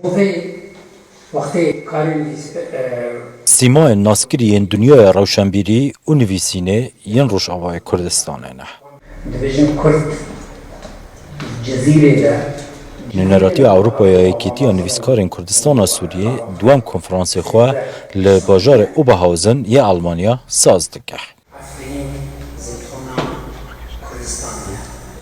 Rojê wextê karên lîstik. Sîmayên naskirî yên dinyaya rewşenbîrî û nivîsînê yên Rojavayê Kurdistanê ne. Dibêjin Kurd li Cizîrê de. Nûneratiya Ewropa ya Yekîtiya Nivîskarên Kurdistana Sûriyê duem konferansê xwe li bajarê Oberhausen yê Elmanya saz dike. Efrînê zeytûna Kurdistanê ye.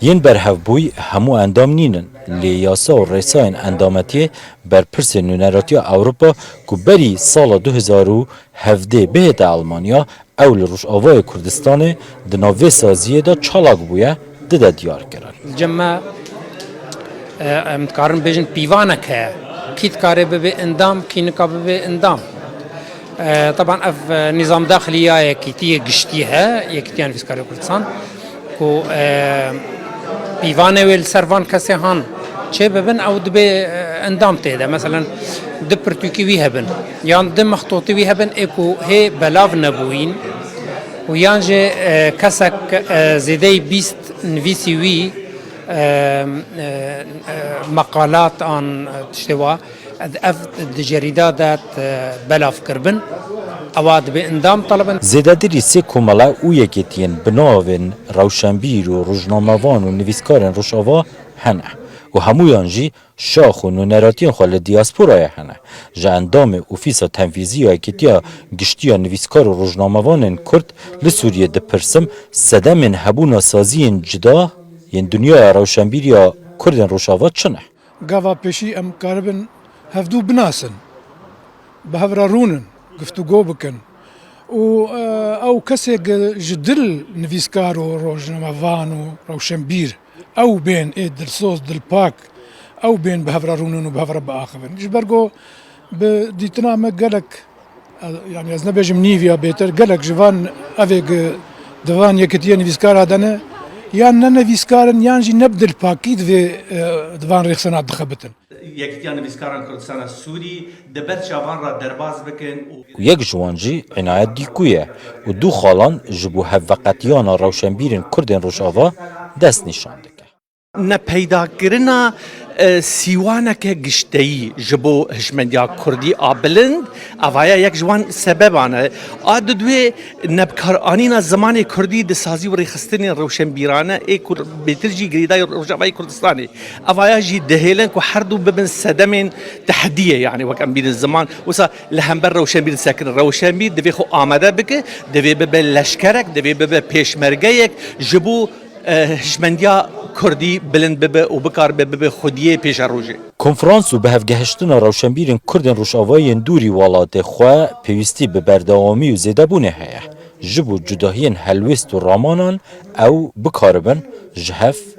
Yên berhevbûy hemû endam nîn in, lê yasa û rêsayên endametiyê berpirsên Nûneratiya Ewropa ku berî sala du hezar û hevdê bihête Elmanya, ew li Rojavayê Kurdistanê di nav vê saziyê de çalak bûye, di de diyar kirin. Cem me em dikarin bêjin pîvanek heye. Kî dikarê bibê endam, kî nika bibê endam. Taban ev nîzam daxilî ya yekîtiyê giştî he, Yekîtiya Nivîskarê Kurdistan ku pîvanê wê li ser van kesê han çê bibin ew dibê endam tê de. Meselen du pirtûkî wî hebin yan du mextotî wî hebin ê ku hê belav nebûyîn. û yan jî kesek zêdeyî bîst nivîsî wî meqalat an tiştê wa ev di cerîda de belav kiribin ewa dibê endam telebin. Zêdetirî sê komele û yekêtiyên bi navên rewşenbîr û rojnamevan û nivîskarên Rojava hene û hemûyan jî Şax û nûneratiyên xwe li diasporayê hene. Ji endamê Ofîsa Tenfîzî ya Yekîtiya Giştî ya Nivîskar û Rojnamevanên Kurd li Sûriyê dipirsim, sedemên hebûna saziyên cuda yên dinyaya rewşenbîriya Kurdên Rojava çi ne? Gava pêşî em karibin hevdu binasin, bi hev re rûn in, guftûgo bikin û ew kesê ji dil nivîskar û rojnamevan û rewşenbîr Ew bên ê dilsoz, dilpak, ew bên bi hev re rûnin û bi hev re biaxivin. Ji ber ku bi dîtina me gelek, yanî ez nebêjim nîv ya bêtir, gelek ji van evê ku di van yekitiyê nivîskara de ne, yan ne nivîskar in yan jî ne bi dilpakî di vê di van rêxistina dixebitin. Yekîtiya Nivîskaran Kurdistana Sûrî di ber çavan re derbas bikin û. Ku yek ji wan jî Înayet Dîkû ye û du xalan ji bo hevveqetiyana rewşenbîrên Kurdên Rojava dest nîşan dike. Ne peydakirina sîwaneke gişteyî ji bo hişmendiya Kurdî a bilind ava ye yek ji wan sebeban e. A di duê nebikaranîna zimanê Kurdî di sazî û rêxistinên rewşenbîrane ê ku bêtir jî girêdayî Rojavayê Kurdistanê. Evaya jî dihêlin ku her du bibin sedemên tehdiyê yanî wek em bînin ziman. Wisa li hember rewşenbîr disekirin. Rewşenbîr divê xwe amade bike, divê bibe leşkerek, divê bibe pêşmergeyek ji bo hişmendiya kurdî bilind bibe û bikaribe bibe xwediyê pêşerojê. Konferans û bihevgehiştina rewşenbîrên Kurdên Rojavayên Dûrî welatê xwe pêwîstî bi berdewamî û zêdebûnê heye. Ji bo cudahiyên helwêst û ramanan ew bikaribin ji hev,